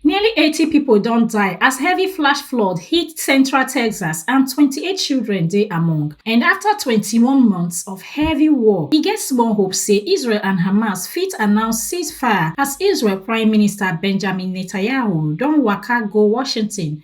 Nearly 80 pipo don die as heavy flash flood hit central Texas and 28 children dey among. And afta 21 months of heavy war, e get small hope say Israel and Hamas fit announce ceasefire as Israel Prime Minister Benjamin Netanyahu don waka go Washington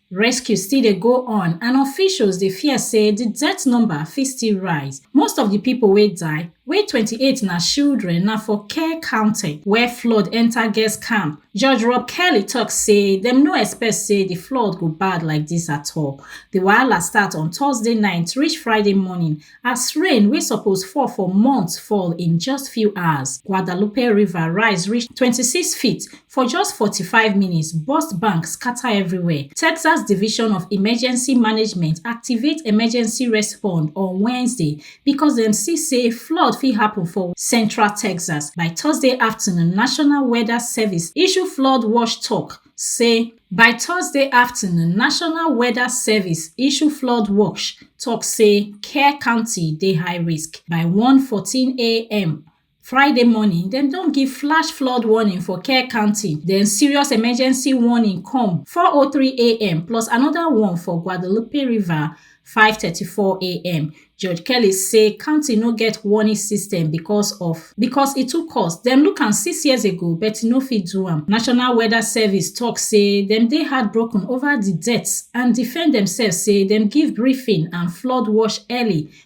Rescue still dey go on and officials dey fear say di death number fit still rise. Most of di pipo wey die, wey 28 na shildren, na for Kerr County, where flood enta girls camp. Judge Rob Kelly tok say dem no expect say di flood go bad like dis at all. Di wahala start on Thursday night reach Friday morning as rain wey suppose fall for months fall in just few hours. Guadalupe River rise reach 26 feet For just 45 minutes, burst bank scatter everywhere. Texas Division of Emergency Management activate emergency response on Wednesday because dem see say flood fit happen for central Texas. By Thursday afternoon, National Weather Service issue flood watch talk say by thursday afternoon national weather service issue flood watch tok say kerr county dey high risk by 1:14am Friday morning, dem don give flash flood warning for Kerr County, then serious emergency warning come 4:03 a.m. plus another one for Guadalupe River 5:34 a.m. Judge Kelly say county no get warning system because of because e too cost. Dem look am six years ago but e no fit do am. National Weather Service talk say dem dey heartbroken over the deaths and defend themselves say dem give briefing and flood watch early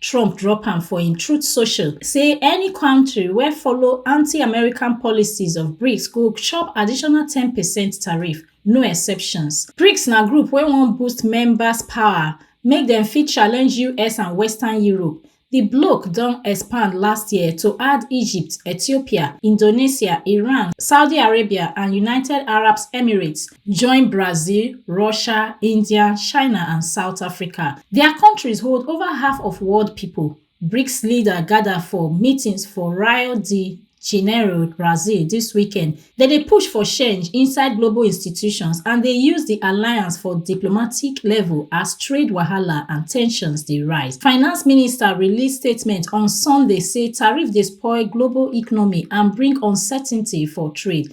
Trump drop am for im Truth Social say any country wey follow anti-American policies of BRICS go chop additional 10 percent tariff, no exceptions. BRICS na group wey wan boost members power make dem fit challenge US and Western Europe. Di bloc don expand last year to add Egypt, Ethiopia, Indonesia, Iran, Saudi Arabia and United Arab Emirates join brazil russia india china and south africa dia kontris hold ova half of world pipo brics leaders gada for meetings for rio de janeiro brazil dis weekend dem dey push for change inside global institutions and dey use di alliance for diplomatic level as trade wahala and ten sions dey rise finance minister release statement on sunday say tariffs dey spoil global economy and bring uncertainty for trade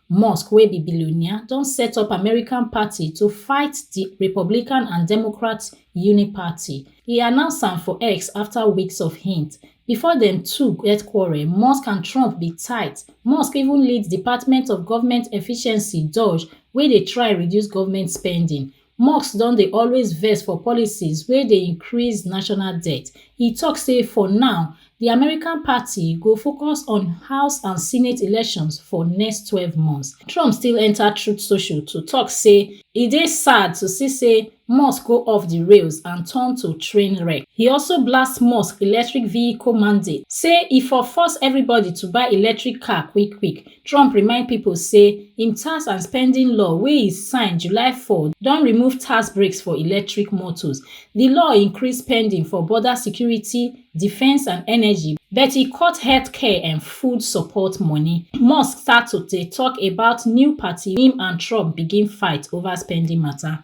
musk wey be billionaire don set up american party to fight di republican and democrat uniparty e announce am for x afta weeks of hint before dem two get quarrel musk and trump bin tight musk even lead department of government efficiency doge wey dey try reduce government spending musk don dey always vex for policies wey dey increase national debt e tok say for now di american party go focus on house and senate elections for next twelve months trump still enta truth social to tok say e dey sad to see say musk go off di rails and turn to train wreck e also blast musk electric vehicle mandate say e for force everybody to buy electric car quick quick trump remind pipo say im tax and spending law wey e sign july 4 don remove tax breaks for electric motors di law increase spending for border security defence and energy but e cut healthcare and food support money musk start to dey tok about new party im and trump begin fight over spending mata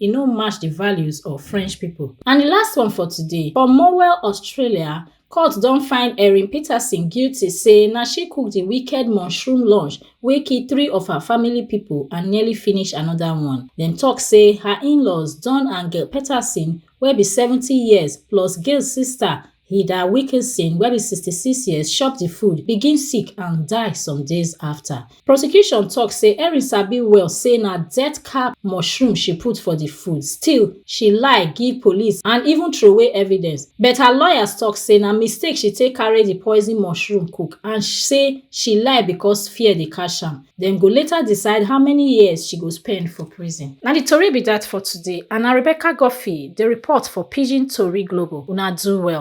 e no match di values of french pipo and di last one for today for morwell australia court don find erin peterson guilty say na she cook di wicked mushroom lunch wey kill three of her family pipo and nearly finish anoda one dem tok say her inlaws don and gail peterson wey be seventy years plus gail sister Hilda Wilkinson, wey be 66 years, chop di food, begin sick and die some days afta. Prosecution tok say Erin sabi well say na death cap mushroom she put for di food, still she lie give police and even throway evidence. But her lawyers tok say na mistake she take carry di poison mushroom cook and say she lie because fear dey catch am. Dem go later decide how many years she go spend for prison. Na di tori be dat for today and na Rebecca Guffey dey report for Pidgin Tori Global. Una do well.